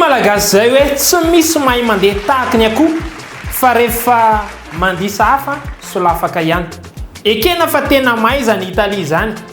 malagasy zay hoe tsy misy mahay mandeha tahaky ny akoho fa rehefa mandisa hafa solafaka ihany ekena fa tena mahay zany italie zany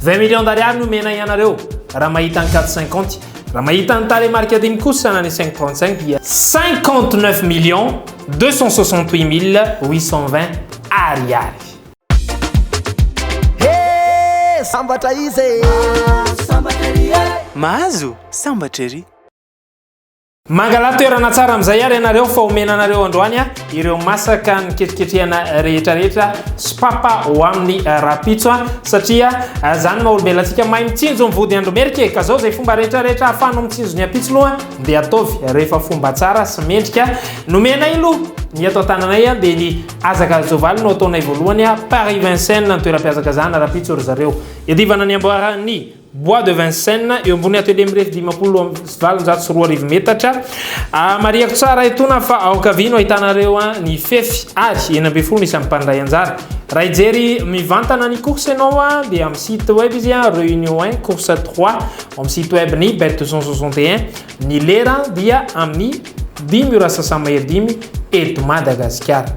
Vingt millions d'ariary no omena ianareo raha mahita ny quatre cinquante. Raha mahita ny tarehimarika dimy kosa na ny cinq trente cinq dia. Cinquante neuf millions deux cent soixante huit mille huit cent vingt ariary. He! Sambatra izy e! Mahazo sambatra ery! Mangala toerana tsara amin'izay ary ianareo fa omena anareo androany ireo masaka niketriketrehana rehetrarehetra sy papa ho amin'ny rapitso satria izany ah, maha-olombelatsika mahay mitsinjo ny vody andromerika e. ka zao izay fomba rehetrarehetra afano mitsinjo ny apitso loha dia ataovy rehefa fomba tsara sy mendrika nomenay loha ny ato an-tananay ah, dia ny azaka azovalo no ataonay voalohany ah, Paris Vincennes ny toeram-pihazakazahana rapitso ry zareo iadivana ny amboaran'ny Bois de Vincennes, eo ambony atelier mirefy dimampolo amby valonjato sy roa arivo metatra. Ah, marihako tsara etona fa ao ankavia no ahitanareo an ny fefy ary enina ambin'ny folo no isan'ny mpandray anjara. Raha hijery mivantana ny course ianao an dia amin'ny site web izy an, Réunion 1, course 3, ao amin'ny site web ny bet deux cent soixante et un. Ny lera dia amin'ny dimy ora sasamahery dimy eto Madagasikara.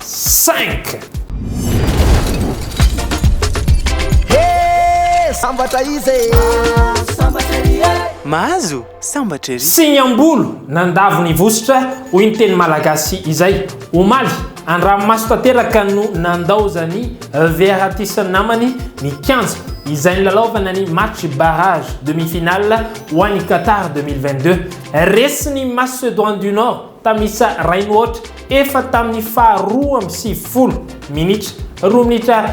Cinq! He! Sambatra izy e! Sambatra ery e! Mahazo sambatra ery! Signambolo nandavo ny vositra, hoy ny teny malagasy izay. Omaly, an-dranomaso tanteraka no nandaozan'i Verratti sy ny namany ny kianja izay nilalaovana ny match barrage demi-finale ho an'i Qatar deux mille vingt-deux. Resy ny Macédoine du Nord. Tamisa Rainihoatra, efa tamin'ny faha roa amby sivifolo minitra, roa minitra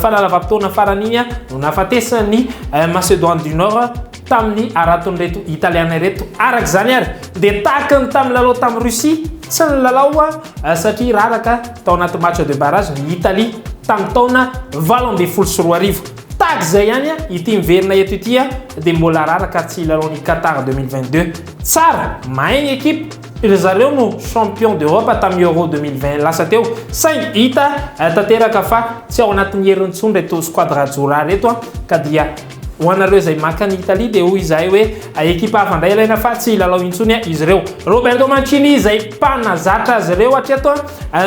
fanalava-potoana farany iny, no nahafatesan'i Macédoine du Nord tamin'ny haraton'ireto Italiana ireto. Araka izany àry, dia tahaka ny tamin'ny lalao tamin'i Russie, tsy nilalao satria raraka tao anaty match de barrage ny Italie, tamin'ny taona valo ambin'ny folo sy roa arivo. Tahaka izay ihany ity miverina eto ity dia mbola araraka ary tsy hilalao ny Qatar 2022. Tsara, mahay ny ekipa, ry zareo no champion d'Europe tamin'ny Euro 2020 lasa teo, saingy hita tanteraka fa tsy ao anatin'ny heriny intsony ireto squadra Djora ireto ka dia ho anareo izay maka an'i Italie dia hoy izahay hoe ekipa hafa indray ilaina fa tsy hilalao intsony izy ireo. Roberto Mancini izay mpanazatra azy ireo hatreto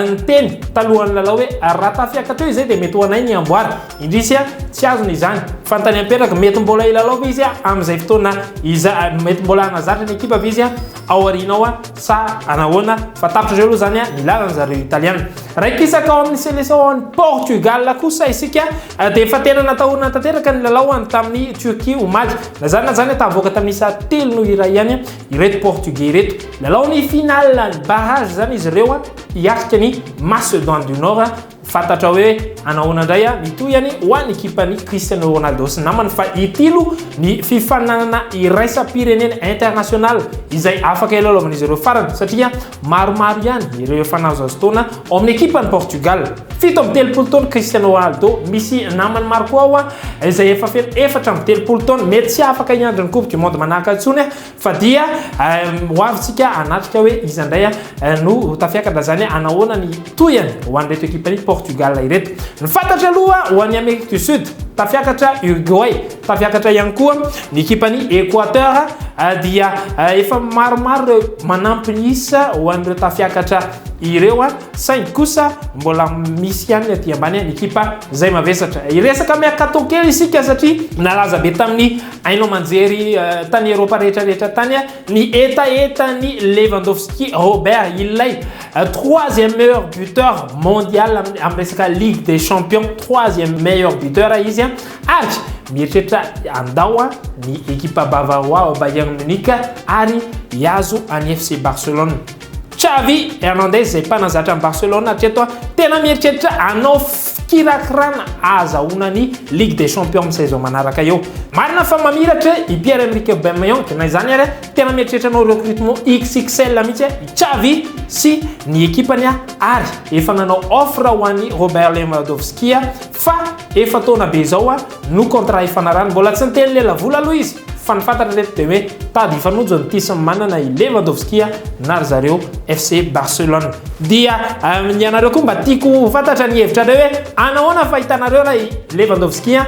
niteny talohan'ny lalao hoe raha tafiakatra eo izay dia mety ho anay ny amboara. Indrisy a! tsy azony izany. Fantany amperaky, mety mbola hilalao ve izy amin'izay fotoana izay? Mety mbola hanazatra ny ekipa ve izy ao aoriana ao sa hanahoana? Fa tapitr'izay aloha izany ny lalan'ny zareo Italiana. Raikisaka ao amin'ny seleção an'i Portugal kosa isika dia efa tena natahorana tanteraka ny lalao any tamin'i Turquie omaly. Na izany na izany, tahavoaka tamin'ny isa telo noho iray ihany ireto Portugais ireto. Lalao ny finale, ny barrage izany izy ireo hiatrika ny Macédoine du Nord. Fantatra hoe hanao ahoana indray a? Ny tohihany ho an'ny ekipan'i Cristiano Ronaldo sy namany fa hitilo ny fifaninanana iraisam-pirenena, international, izay afaka hilalaovan'izy ireo farany satria maromaro ihany ireo efa nahazo azy taona ao amin'ny ekipan'i Portugal. Fito amby telopolo taona Cristiano Ronaldo, misy namany Marco ao izay efa feno efatra amby telopolo taona, mety tsy afaka hiandry ny coupe du monde manaraka intsony. Fa dia ho avy tsika hanatrika hoe iza indray no ho tafiakatra izany hanahoana ny tohiny ho an'ireto ekipan'i Portugal ireto. Ny fantatra aloha ho an'i Amerique du Sud, tafiakatra Uruguay, tafiakatra ihany koa ny ekipan'i Equateur dia efa maromaro ireo manampy ny isa ho an'ireo tafiakatra ireo saingy kosa mbola misy ihany ny aty ambany ny ekipa izay mavesatra. Hiresaka mercato kely isika satria nalaza be tamin'ny Haino aman-jery tany Eropa rehetra rehetra tany ny hetahetan'i Lewandowski Robert, ilay troisième meilleur buteur mondial amin'ny resaka Ligue des Champions, troisième meilleur buteur izy ary mieritreritra handao ny ekipa Bavarois ao Bayern Munich ary hihazo an'i FC Barcelone. Xavi Hernandez izay mpanazatra an'i Barcelone hatreto a, tena mieritreritra hanao fikirakirana ahazahoana ny Ligue des Champions amin'ny saison manaraka eo. Marina fa mamiratra i Pierre-Emerick Aubameyang, na izany ary, tena mieritreritra hanao recrutement XXL mihitsy i Xavi sy ny ekipany ary efa nanao offre ho an'i Robert Lewandowski fa efa taona be izao a, No contrat hifanarahany. Mbola tsy niteny lelavola aloha izy fa ny fantatra reto dia hoe tady hifanojo ny Tis manana i Lewandowski na ry zareo FC Barcelone. Dia ny anareo koa mba tiako ho fantatra ny hevitrareo hoe anahoana fahitanareo ilay Lewandowski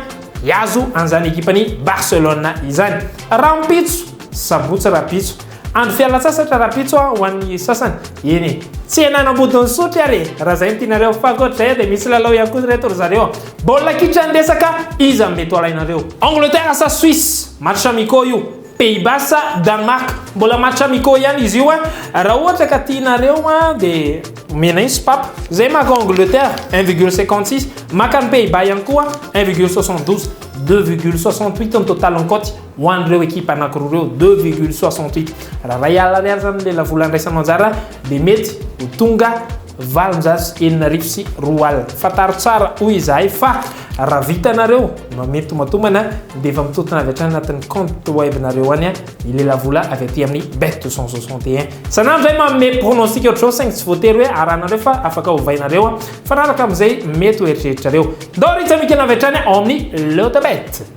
hiazo an'izany ekipan'i Barcelone izany. Rahampitso, sabotsy rahampitso. Andro fialantsasatra rahampitso ho an'ny sasany. Eny e! Tsy henan'ambodin'ny sotry ary e! Raha izay no tianareo. Fa ankoatr'izay eo dia misy lalao ihany koa ry reto ry zareo. Baolina kitra ny resaka, iza no mety ho alainareo? Angleterre sa Suisse? Match amicaux io. Pays Bas sa Danemark? Mbola match amicaux ihany izy io. Raha ohatra ka tianareo dia omena iny sopapa. Izay maka Angleterre, un virgule cinquante six. Maka an'i Pays Bas ihany koa, un virgule soixante douze. Deux virgule soixante huit ny total-n'ny kaoty. ho an'ireo ekipa anankiroa ireo deux virgule soixante huit raha iray alina ariary izany ny lelavola andraisanao anjara dia mety ho tonga valonjato sy enina arivo sy roa alina fantaro tsara hoy izahay fa raha vitanareo mamely tomatombana dia efa mitotona avy hatrany anatin'ny compte webnareo any ny lelavola avy aty amin'ny bet deux cent soixante et un sanany izay manome pronostic ohatr'izao saingy tsy voatery hoe arahanareo fa afaka hovainareo fanaraka amin'izay mety ho eritreritrareo ndao ritsa mikena avy hatrany ao amin'ny lotabet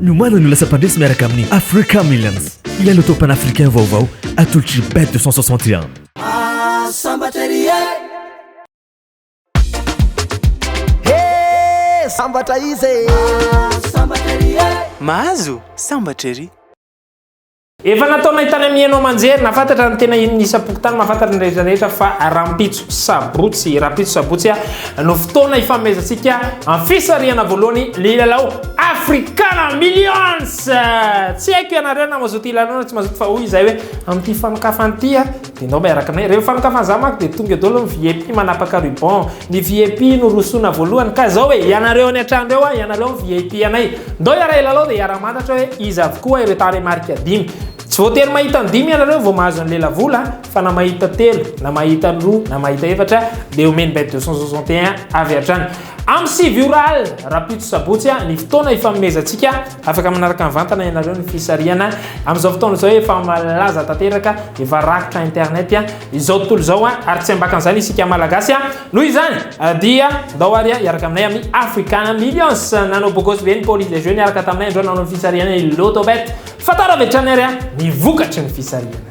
Ny omaly no lasa mpandresy miaraka amin'ny Africa Millions, ilay loto panafricain vaovao atolotr'i Bet 261. Mahazo sambatra ery. Efa nataonay tany amin'ny haino aman-jery, nafantatra ny tena inona isam-pokontany, mahafantatra ny rehetra rehetra fa rahampitso sabotsy, rahampitso sabotsy no fotoana hifanomezantsika amin'ny fisarihana voalohany ny lalao Africana Millions! Tsy haiko ianareo na mazoto hilalao na tsy mazoto fa hoy izahay hoe amin'ity fanokafana ity, Enao miaraka anay. Rehefa mifanokafana za manko de tonga eo daholo ny vip manapaka ruban. Ny vip no rosoana voalohany ka zao e, ianareo any an-trano reo a, ianareo ny vip anay. Ndao hiara hilalao de hiara mantatra hoe iza avokoa ireo tarehimarika dimy. Tsy voatery mahita ny dimy ianareo vao mahazo ny lelavola fa na mahita telo, na mahita ny roa, na mahita efatra de omeny bet 261 avy hatrany. Am sivy ora alina, rahampitso sabotsy, ny fotoana ifanomezantsika. Afaka manaraka mivantana ianareo ny fisarihana. Amin'izao fotoana izao efa malaza tanteraka, efa rakotra internet izao tontolo izao ary tsy ambakan'izany isika Malagasy. Noho izany dia ndao ary hiaraka aminay amin'ny Africa Millions. Nanao bogosy be ny police des jeux niaraka taminay androany nanao ny fisarihana ny Lotto Bet. Fantaro avy hatrany ary ny vokatry ny fisarihana.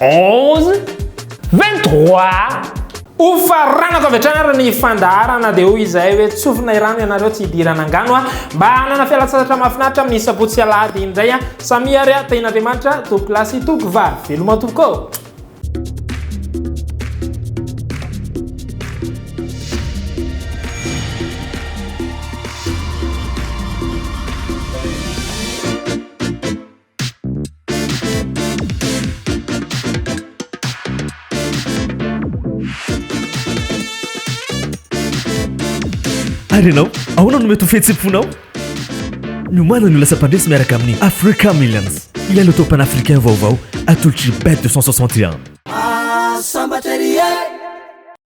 11, 23. Ho faranako avy hatrany ary ny fandaharana dia hoy izahay hoe tsofina irano ianareo tsy hidirana angano a mba hanana fialantsasatra mahafinaritra amin'ny sabotsy sy alahady indray a samia ary a tahin'andriamanitra tompoko lahy sy tompoko vavy veloma tompoko Ary ianao, ahoana no mety ho fihetsem-ponao? Miomana ny ho lasa mpandresy miaraka amin'ny Africa Millions, ilay loto panafricain vaovao atolotry Bet 261. Sambatra ery e!